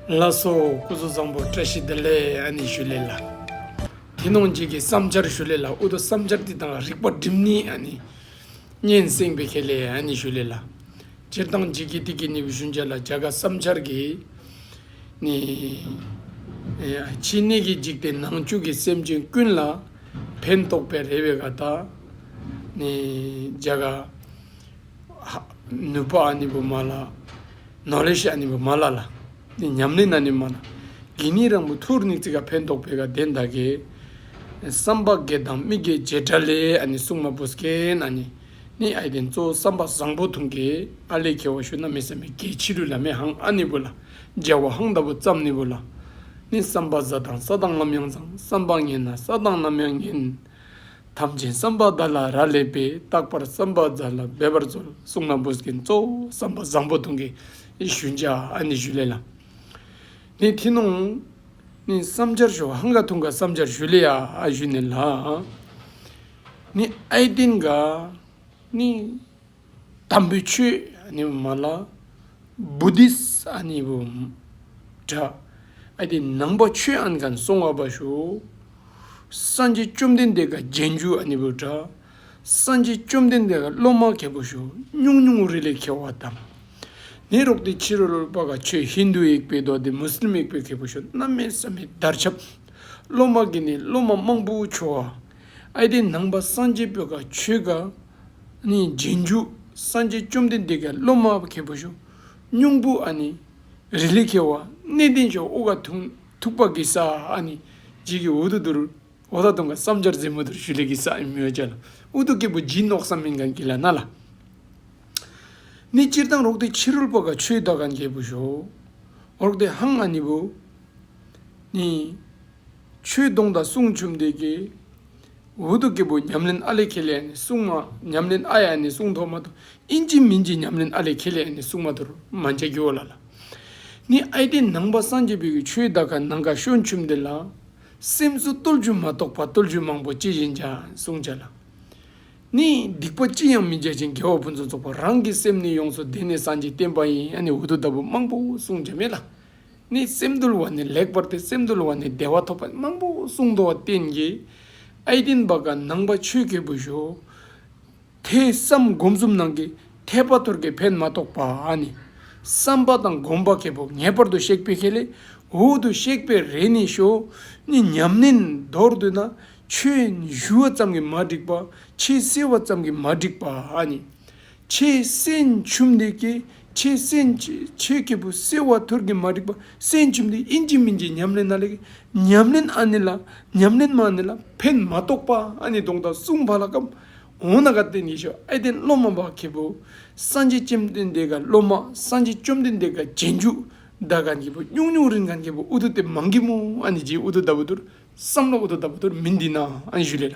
ལ་སོགས་སྐུ་གཟུགས་བཟང་པོ་བཀྲ་ཤིས་བདེ་ལེགས་ཨ་ནི་ཞུ་ལེ་ལ། དེ་ནོངས་བགྱིད་ཀྱི་བསམ་འཆར་ཞུ་ལེ་ལ་ཨུ་ཏོ་བསམ་འཆར་འདི་དང་རིག་པ་སྒྲིམ་ནི་ཨ་ནི། སྙན་གསེང་བེ་ཁེ་ལེ་ཨ་ནི་ཞུ་ལེ་ལ། སྤྱིར་བཏང་བགྱིད་ཀྱི་ཏི་ཀི་ནི་བི་ཤུན་ཅན་ལ་བྱ་དགའ་བསམ་འཆར་གྱི་ནི། ཕྱི་གནས་ཀྱི་འཇིག་རྟེན་ནང་བཅུད་ཀྱི་སེམས་ཅན་ཀུན་ལ། ཕན་འདོགས་པའི་རེ་བའི་ག་དག་ནི་བྱ་དགའ། ནུས་པ་ཨ་ནི་བུ་མ་ལ། ནོ་ལེ་ཤི་ཨ་ནི་བུ་མ་ལ་ལ། ནི་ཉམས་ལེ་ན་ནི་མ་ལ། གི་ནི་རང་བུ་ཐུར་ནི་ཙི་ག་ཕན་འདོགས་པའི་ག་དེ་འདའ་གི། བསམ་པ་གེ་དང་མི་གེ་བྱེ་བྲ་ལེ་ཨ་ནི་སུག་མ་བུ་ཟ་གེ་ན་ནི། ནི་ཨའི་དེ་ཙོ་བསམ་པ་བཟང་པོ་ཐུང་གི་ཨ་ལེ་གེ་བ་ཤུ་ན་མི་བསམ་པའི་གེ་ཕྱི་རུ་ལ་མེ་ཧང་ཨ་ནི་བུ་ལ། འཇའ་བ་ཧང་ད་བུ་ཙམ་ནི་བུ་ལ། ནི་བསམ་པ་བཟའ་དང་ས་དང་ངམ་ཡང་ཙང་བསམ་པ་ངན་ན་ས་དང་ནམ་ཡང་ངན། ཐམས་ཅད་བསམ་པ་བརྡ་ལ་རག་ལས་པས་རྟག་པར་བསམ་པ་བརྡ་ལ་འབད་པར་སྩོལ་གསུངས་ན་བོད་ཀྱི་གཙོ་བོ་བསམ་པ་བཟང་པོ་དང་གི་ཞུ་འཇའ་ཨ་ནི་ཞུ་ལེ་ལ་ནི་ཐི་ནོང་ནི་བསམ་འཇར་ཞུ་ཧང་ག་ཐུང་ག་བསམ་འཇར་ཞུ་ལེ་ཨ་ཨ་ཞུ་ནི་ལ་ནི་ཨའི་ཏིང་ག་ནི། དམ་པའི་ཆོས་ནི་མ་ལགས། Buddhist ནི་བོ་འདྲ། ཨ་ཏི་ནང་པ་ཆོས་ཨན་གན་སོང་བ་པ་ཞུ། སངས་རྒྱས་བཅོམ་ལྡན་འདས་ག་རྒྱན་རྒྱུ་ནི་བོ་འདྲ། སངས་རྒྱས་བཅོམ་ལྡན་འདས་ག་སློབ་མ་གལ་པོ་ཞུ་སྙུང་སྙུང་རི་ལས་ཁེལ་བ་དང། ནི་རོག་ཏི་ཕྱི་རོལ་པ་ག་ཆོས་ཧིན་དུ་ཡིག་པའི་མདོ་སྡེ་མུ་སི་ལིམ་ཡིག་པའི་གལ་པོ་ཞུ་རྣམ་མེད་བསམ་མེད་བརྡར་ཁྱབ། སློབ་མ་གི་ནི་སློབ་མ་དམངས་པོ་ཆོས་བ། ཨ་ཏི་ནང་པ་སངས་རྒྱས་པོ་ག་ཆོས་ག། ནི་རྗེས་འཇུག་སངས་རྒྱས་བཅོམ་ལྡན་འདས་ཀྱི་སློབ་མ་བ་གས་པ་ཞུ་སྙུང་བུ་ཨ་ནི་རི་ལི་ཁེ་བ་གནས་བརྟན་ཆོག་དབུ་ག་དུང་ཐུག་པ་གི་ས་ཨ་ནི་རྗེས་ཀྱི་འོ་དུ་དུར་འོ་ད་དུང་ག་བསམ་སྦྱར་རྫི་མོ་དུར་ཞུ་ལས་ཀྱི་ས་ཨི་མི་བ་ཅལ་ཨུ་དུ་སྐྱེས་བུ་སྦྱིན་ནོག་ས་མིན་གང་གི་ལ་ན་ལ་ནི་སྤྱིར་བཏང་རོག་ཏི་ཕྱི་རོལ་པ་ག་ཆོས་བདག་གང་རྒྱལ་བུ་ཞོ་རོག་ཏི་ཧང་ཨ་ནི་བུ་ནི་ཆོས་སྡོང་དང་གསུང་བཅོམ་འདས་ཀྱི། ཝུ་ཏུ་ཀི་པོ་ཉམས་ལེན་ཨ་ལེ་ཁེ་ལེ་ནི་སྲུང་མ་ཉམས་ལེན་ཨ་ཡ་ནི་སྲུང་ཐོག་མ་དུ་ཨིན་ཅིན་མིན་ཅིན་ཉམས་ལེན་ཨ་ལེ་ཁེ་ལེ་ནི་སྲུང་མ་དུ་རུ་མ་འཇའ་གུ་ལ་ལ། ནི་ཨའི་ཏེ་ནང་པ་སངས་རྒྱས་བོད་ཀྱི་ཆོས་བདག་ག་ནང་ག་ཤོ་འཆུམས་འདི་ལ། སེམས་སུ་རྟོལ་བཅུ་མ་གཏོགས་པ་རྟོལ་བཅུ་མང་པོ་ཅི་བཞིན་ཅང་གསུང་བྱ་ལ། ནི་སྡིག་པ་ཅི་ཡང་མི་བྱ་ཅིང་དགེ་བ་ཕུན་སུམ་ཚོགས་པ་རང་གི་སེམས་ནི་ཡོངས་སུ་བདེ་ནས་སངས་རྒྱས་བསྟན་པ་ཡིན་ཡང་ནི་འུ་ཐུག་ལྟ་བུ་མང་པོ་གསུང་བྱ་མེད་ལ། ནི་སེམས་དུལ་བ་ནི་ལེགས་པར་ཏེ་སེམས་དུལ་བ་ནི་བདེ་བ་ཐོབ་པ་མང་པོ་གསུངས་མདོ་བསྟན་གྱི་ཨའི་བསྟན་པ་གང་ནང་པ་ཆོས་སྐྱེས་བུ་ཞོ་དེས་བསམ་སྒོམ་གསུམ་ནང་གི་འཐད་པ་ཐོར་གྱི་ཕན་མ་རྟོགས་པ་ནི། བསམ་པ་དང་སྒོམ་པ་གལ་པོ་ངེས་པར་དུ་གཤེགས་པའི་ཁྱད་ལས་འོག་ཏུ་གཤེགས་པའི་རེ་ནི་ཞོ་ནི་ཉམས་ལེན་མདོར་བསྡུ་ན་ཆོས་ཞུ་བ་ཙམ་གྱིས་མ་འགྲིགས་པ་ཆེས་བསྲེ་བ་ཙམ་གྱིས་མ་འགྲིགས་པ་ནི། ཆེས་སྲིན་བྱུབ་འདེགས་ཀྱི་ཆེས་སྲིན་ཆོས་སྐྱེས་བུ་སེ་བ་ཐུར་གྱི་མ་རིག་པ་སྲིན་བྱུབ་འདེགས་ཨིན་ཇི་མིན་ཇི་ཉམས་ལེན་ན་ལེགས་ཉམས་ལེན་ཨ་ནི་ལ་ཉམས་ལེན་མ་ནི་ལ་ཕན་མ་རྟོགས་པ་ཨ་ནི་སྡོང་དང་གསུང་བ་ལ་ཀམ་འོང་ན་ག་བསྟན་ཡེ་ཤོ་ཨེ་བསྟན་བློ་མ་བག་ཁེ་བོ་སངས་རྒྱས་སྐྱེམས་བསྟན་འདེགས་ག་བློ་མ་སངས་རྒྱས་བཅོམ་ལྡན་འདེགས་ག་རྗེས་འཇུག་བདག་ག་འགྱེད་པོ་སྙུག་སྙུག་རིན་ག་འགྱེད་པོ་ཨུ་དུ་དེ་མ་འགྱེད་མོ་ཨ་ནི་རྗེས་ཨུ་དུ་ད་བུ་དུར་བསམ་ལ་ཨུ་དུ་ད་བུ་དུར་མི་འདི་ན་ཨ་ནི་ཞུ་ལེ་ལ།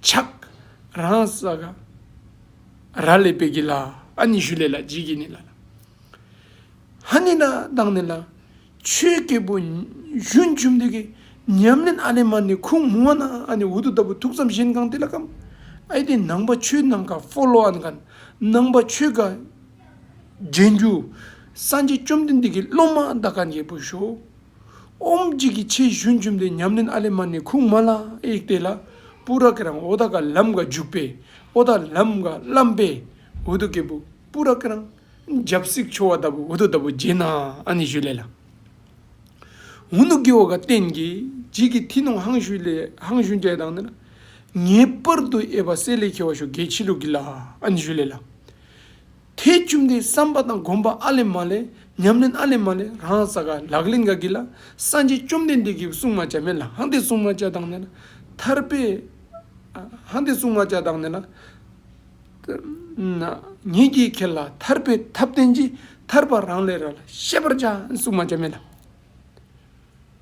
ཆགས། རང་ས་ག་ར་ལས་པས་གི་ལ་ཨ་ནི་ཞུ་ལས་ལ་ཇི་གི་ནི་ལ། ཧ་ནི་ན་དང་ནི་ལ། ཆོས་སྐྱེས་བུ་གཞོན་བཅོམ་ལྡན་གྱི་ཉམས་ལེན་ཨ་ལས་མ་ནི་ཁུང་མུ་བ་ན་ཨ་ནི་འུ་དུ་ལྟ་བུ་ཐུགས་བསམ་གཞན་གང་དེ་ལ་ཀམ་ཨའི་དེ་ནང་པ་ཆོས་ནམ་མཁའ་ཧྥོ་ལོ་ཨན་ག་ནང་པ་ཆོས་ག་རྒྱན་གྱུར་སངས་རྒྱས་བཅོམ་ལྡན་འདས་ཀྱི་སློབ་མ་ཨ་ད་ག་འགྱེད་པོ་ཞོ། ཨོམ་བརྗིད་ཀྱི་ཆེ་ཞུན་བཅུམ་སྟེ་ཉམས་ལེན་ཨ་ལེ་མ་ནི་ཁུག་མ་ལ་ཨེ་བལྟས་ལ་པུ་ར་ཀེ་རང་ཨོ་ད་ག་ལམ་ག་འཇུག་པས་ཨོ་ད་ལམ་ག་བརླམས་པས་འོ་དོ་ཀེ་པུ་པུ་ར་ཀེ་རང་འཇབ་བསིག་འཆོ་བ་ལྟ་བུ་འོ་དོ་ལྟ་བུ་བརྗེད་ན་ཨ་ནི་ཞུ་ལེ་ལ་འུ་ནུ་ཀེ་འོ་ག་བརྟེན་གྱིས་བརྗིད་ཀྱི་ཐི་ནོང་ཧང་ཞུ་ལེ་ཧང་ཞུན་ཀྱེ་དང་ནི་ལ་ངེས་པར་དུ་ཨེ་བ་སེ་ལེ་ཁེ་བ་ཞོ་གེ་ཆི་ལུག་གི་ལ་ཨ་ནི་ཞུ་ལེ་ལ། དེས་བཅོམ་ལྡན་བསམ་པ་དང་བསྒོམ་པ་ཨ་ལས་མ་ལས་ཉམས་ལེན་ཨ་ལས་མ་ལས་རང་ས་ག་ལག་ལེན་ག་གི་ལ་སངས་རྒྱས་བཅོམ་ལྡན་འདས་ཀྱིས་བསྲུང་མ་བྱ་མེད་ལ་ཧང་སྟེ་བསྲུང་མ་བྱ་དང་ནི་ལ་ཐར་པའི་ཧང་སྟེ་བསྲུང་མ་བྱ་དང་ནི་ལ། ཉེས་ཀྱིས་ཁེལ་ལ་ཐར་པའི་ཐབས་བསྟན་གྱིས་ཐར་པ་རང་ལས་ར་ལ་ཤེས་པར་བྱ་བསྲུང་མ་བྱ་མེད་ལ།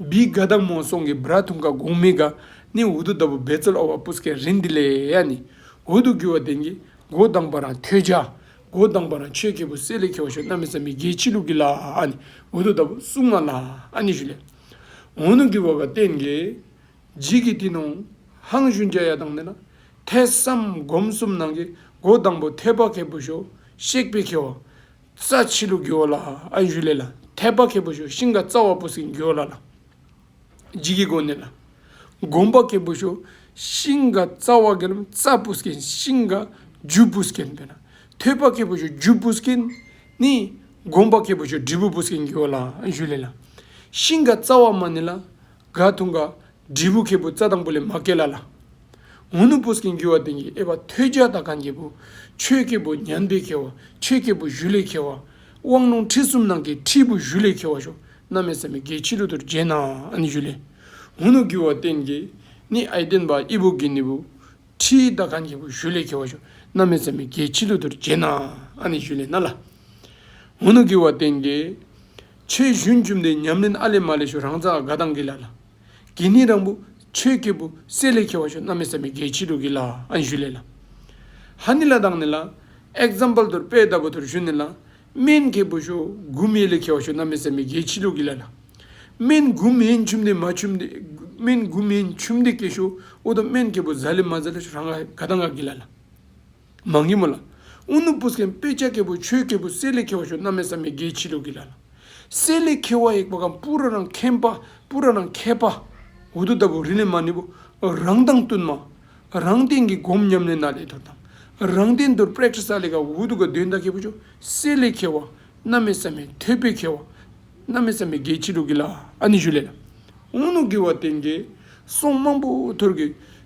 བི་དགའ་བདག་མོ་སོང་གི་བི་ར་དུང་ཀ་གུང་མི་དགའ་ནི་འུ་དུ་ད་བུ་བེ་ཙལ་ཨོ་བ་པུས་ཀའི་རི་འདི་ལས་ཡ་ནི་འུ་དུ་གུ་བ་དེང་གི་མགོ་བདང་བ་རང་ཁྱོད་ཅག་མགོ་བདང་བ་རང་ཆོས་ཀྱི་བུ་སེ་ལེ་ཁྱོ་བ་ཤོ་ན་མི་ས་མི་དགེའི་ཕྱི་ལུགས་ཀྱི་ལ་ཨ་ནི་འུ་དུ་ད་བུ་སུག་མ་ལ་ཨ་ནི་ཞུ་ལེ་འུ་ནུ་གུ་བ་བ་དེང་གི་ཇི་གི་དི་ནོང་ཧང་ཞུན་རྒྱ་ཡ་དང་ནི་ལ་ཐེ་སམ་སྒོམ་གསུམ་ནང་གི་མགོ་བདང་བུ་ཐེ་བ་ཁའི་བུ་ཤོ་གཤེགས་པའི་ཁྱོ་བ་རྩ་ཆེ་ལུགས་འགྱོ་ལ་ཨ་བཞུ་ལེ་ལ་ཐལ་པ་ཁེ་པོ་ཞོ་ཤིང་ཀ་རྩ་བ་པོ་སིག་འགྱོ་ལ་ལ་ལྗིད་ཀི་སྒོ་ནེ་ལ་གོམ་པ་ཁེ་པོ་ཞོ་ཤིང་ཀ་རྩ་བ་གེ་ལམ་རྩ་པོ་སིག་གན་ཤིང་ཀ་རྒྱུ་པོ་སིག་གན་པེ་ན་ཐོད་པ་ཁེ་པོ་ཞོ་རྒྱུ་པོ་སིག་གན་ནི་གོམ་པ་ཁེ་པོ་ཞོ་དྲི་བོ་པོ་སིག་གན་འགྱོ་ལ་ཨ་བཞུ་ལེ་ལ་ཤིང་ཀ་རྩ་བ་མ་ནེ་ལ་ག་ཐུང་ག། དྲིལ་བུ་ཁེ་བུ་རྩ་དང་པོ་ལས་མ་སྐྱེས་ལ་ལ། ངུ་ནུ་པུས་ཀྱིས་འགྱུ་བ་དོན་གྱིས་ཨེ་བ་ཐོད་རྒྱ་དང་གང་སྐྱེས་བུ། ཆོས་སྐྱེས་བུ་མྱང་འདས་ཁེ་བ་ཆོས་སྐྱེས་བུ་གཞུ་ལས་ཁེ་བ། དབང་ལུང་ཁྲིད་གསུམ་ནང་གི་ཁྲིད་བུ་གཞུ་ལས་ཁེ་བ་ཞོ་སྣ་མེད་ས་མི་དགེའི་ཕྱི་རོལ་དུར་བརྒྱན་ན་ནི་གཞུ་ལས། ངུ་ནུ་འགྱུ་བ་རྟེན་གྱིས་ནི་ཨེ་བརྟེན་པ་ཨི་བུ་གི་ནི་བུ། ཁྲིད་དང་གང་སྐྱེས་བུ་གཞུ་ལས་ཁེ་བ་ཞོ་སྣ་མེད་ས་མི་དགེའི་ཕྱི་རོལ་དུར་བརྒྱན་ན་ནི་གཞུ་ལས་ན་ལ། ངུ་ནུ་འགྱུ་བ་རྟེན་གྱིས། ཆོས་བཞུན་རྒྱུ་འབྲས་ཉམས་ལེན་ཨ་ལས་མ་ལས་ཞུ་རང་རྩ་དགའ་དང་གི་ལ་ལ། གི་ནི་རང་བུ་ཆོས་སྐྱེས་བུ་སྲས་ལས་ཁྱེར་བ་ཞུ་རྣམ་མེད་བསམ་པའི་རྒྱལ་ཕྱི་དྲུག་གི་ལ་ཨན་ཞུ་ལས་ལ། ཧ་ནི་ལ་དང་ནི་ལ། Example དུར་དཔལ་ལྟ་བུ་དུར་བཞུ་ནི་ལ། སྨན་སྐྱེས་བུ་ཞུ་དགུ་མེད་ལས་ཁྱེར་བ་ཞུ་རྣམ་མེད་བསམ་པའི་རྒྱལ་ཕྱི་དྲུག་གི་ལ་ལ། སྨན་དགུ་མེད་ཆུ་འདེགས་མ་ཆུ་འདེགས་སྨན་དགུ་མེད་ཆུ་འདེགས་སྐྱེས་ཞུ་ཨུ་དང་སྨན་སྐྱེས་བུ་གཟའ་ལས་མ་གཟའ་ལས་ཞུ་རང་དགའ་དང་དགའ་གི་ལ་ལ། མ་ངེས་མོ་ལ། ཨུ་ནུ་པུ་སྐན་པད་ཆ་ཀེ་པོ་ཆོས་ཀེ་པོ་གསེར་ལས་ཁེ་བ་ཤོ་ན་མེ་བསམ་མེ་དགའི་འཆི་ལུགས་ཀྱི་ལ་ལ། གསེར་ལས་ཁེ་བ་ཡེག་པ་གམ་པུ་ར་རང་ཁན་པ་པུ་ར་རང་ཁད་པ། འུ་དུ་ལྟ་བུ་རི་ལས་མ་ནི་པོ། རང་དང་བསྟུན་མ། རང་བསྟན་གྱི་སྒོམ་ཉམས་ལེན་ན་ལས་དོར་དང། རང་བསྟན་དོར་པྲེཀ་ས་ལས་ཀ་འུ་དུ་ཀ་དོན་དང་ཁེ་པོ་ཆོ་གསེར་ལས་ཁེ་བ་ན་མེ་བསམ་མེ་ཐོད་པོའི་ཁེ་བ་ན་མེ་བསམ་མེ་དགའི་འཆི་ལུགས་ཀྱི་ལ་ཨ་ནི་ཞུ་ལས་ལ། ཨུ་ནུ་དགེ་བ་དེ་འགའི་སོང་དམངས་པོ་ཐོར་གི།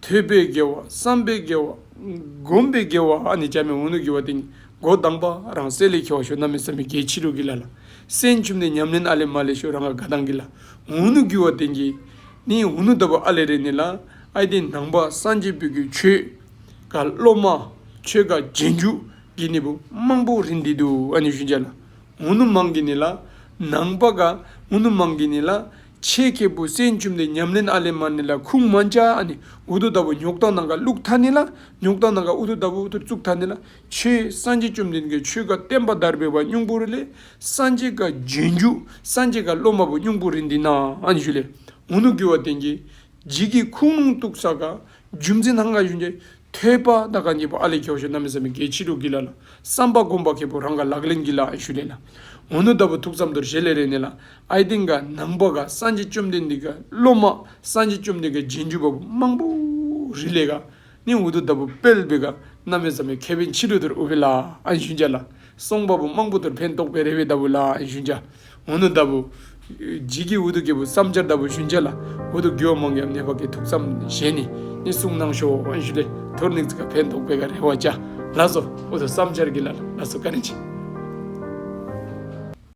ཐོས་པས་དགེ་བ་བསམ་པས་དགེ་བ་བསྒོམས་པས་དགེ་བ་ཨ་ནི་བྱམས་མའི་འོ་ནུ་གྱུར་བ་དེ་ཉིད་མགོ་བསྡམས་པ་རང་གསལ་ལེགས་འཁྱོལ་བ་ཞོ་སྣ་མི་བསམ་པའི་དགེ་ཕྱི་དྲོ་གི་ལ་ལ་སྲན་ཆུབ་ནས་ཉམས་ལེན་ཨ་ལེ་མ་ལེ་ཞོ་རང་ག་ག་དང་གི་ལ་འོ་ནུ་གྱུར་བ་དེ་ཉིད་ནི་འོ་ནུ་ལྟ་བུ་ཨ་ལེ་རེ་ནི་ལ་ཨའི་དེ་ནང་པ་སངས་རྒྱས་པོད་ཀྱི་ཆོས་ག་སློབ་མ་ཆོས་ག་རྗེས་འཇུག་གི་ནི་བུ་དམངས་པོ་རི་འདི་དུ་ཨ་ནི་ཤུན་བྱ་ལ། ངུ་ནུ་མང་གི་ནི་ལ། ནང་པ་ག། ངུ་ནུ་མང་གི་ནི་ལ། ཆེ་སྐྱེས་བུ་སྲས་འཇུམ་ལྡན་ཉམས་ལེན་ཨ་ལས་མར་ནི་ལ་ཁུང་མ་འཇའ་ཨ་ནི་འུ་དུ་ད་བུ་ཉོག་དང་ནང་ག་བླུགས་མཐའ་ནི་ལ། ཉོག་དང་ནང་ག་འུ་དུ་ད་བུ་འུ་དུར་བཙུགས་མཐའ་ནི་ལ། ཆོས་སངས་རྒྱས་བཅོམ་ལྡན་གྱི་ཆོས་ག་བསྟན་པ་དར་བའི་བ་སྙུང་པོ་རི་ལས། སངས་རྒྱས་ག་རྗེས་འཇུག་སངས་རྒྱས་ག་སློབ་མ་བུ་སྙུང་པོ་རི་འདི་ན་ཨ་ནི་བཞུགས་ལས། ངུ་ནུ་རྒྱུ་བ་བསྟན་གྱི། རྗེས་ཀྱི་ཁུངས་ལུང་གཏུགས་ས་ག་རྒྱུ་མཚན་ཐང་ག་ཡོད་འདི། ཐོས་པ་ད་ག་ཉིད་པ་ཨ་ལས་ཀྱོག་ཞོ་གནའ་མི་ས་མི་གལ་ཕྱི་དྲོ་གི་ལ་ལ་བསམ་པ་སྒོམ་པ་མཁས་པོ་རང་ག་ལག་ལེན་གྱི་ལ་ཨེ་ཞུ་ལེ་ལ། ངོ་ནུ་ལྟ་བུ་ཐུགས་ཙམ་དོར་ཞེ་ལེ་རེ་ནི་ལ་ཨའི་སྟེང་ག་ནང་པ་ག་སངས་རྒྱས་བཅོམ་ལྡན་འདས་ག་སློབ་མ་སངས་རྒྱས་བཅོམ་ལྡན་ག་རྗེས་འཇུག་པ་པོ་དམངས་པོ་རི་ལས་ག། ནི་འུ་ཐུག་ལྟ་བུ་དཔལ་བེ་ག་རྣམ་མེད་ཙམ་མའི་མཁས་པའི་འཆི་བྲོད་དུར་ཨུ་བེ་ལ་ཨན་ཤུན་བྱ་ལ་སོང་པ་པོ་རྨང་པོ་དུར་འཕན་རྟོག་པའི་རེ་བའི་ལྟ་བུ་ལ་ཨན་ཤུན་བྱ་འུ་ནུ་ལྟ་བུ། བརྗིད་ཀྱི་འུ་ཐུག་སྐྱེས་བུ་བསམ་འཆར་ལྟ་བུ་ཤུན་བྱ་ལ་འུ་ཐུག་རྒྱུ་བ་མང་ཡང་ནད་བག་གི་དུག་ཙམ་གཞན་ནི་ནི་གསུང་སྣང་ཤོ་ཨན་ཤུ་ལེ་དུར་ནིག་ཙི་ཀ་འཕན་རྟོག་པེ་ག་རེ་བ་བྱ་ལ་སོ་འུ་ཐུག་བསམ་འཆར་གྱི་ལ་ལ་སོ་ཀ་ནི་བྱེད།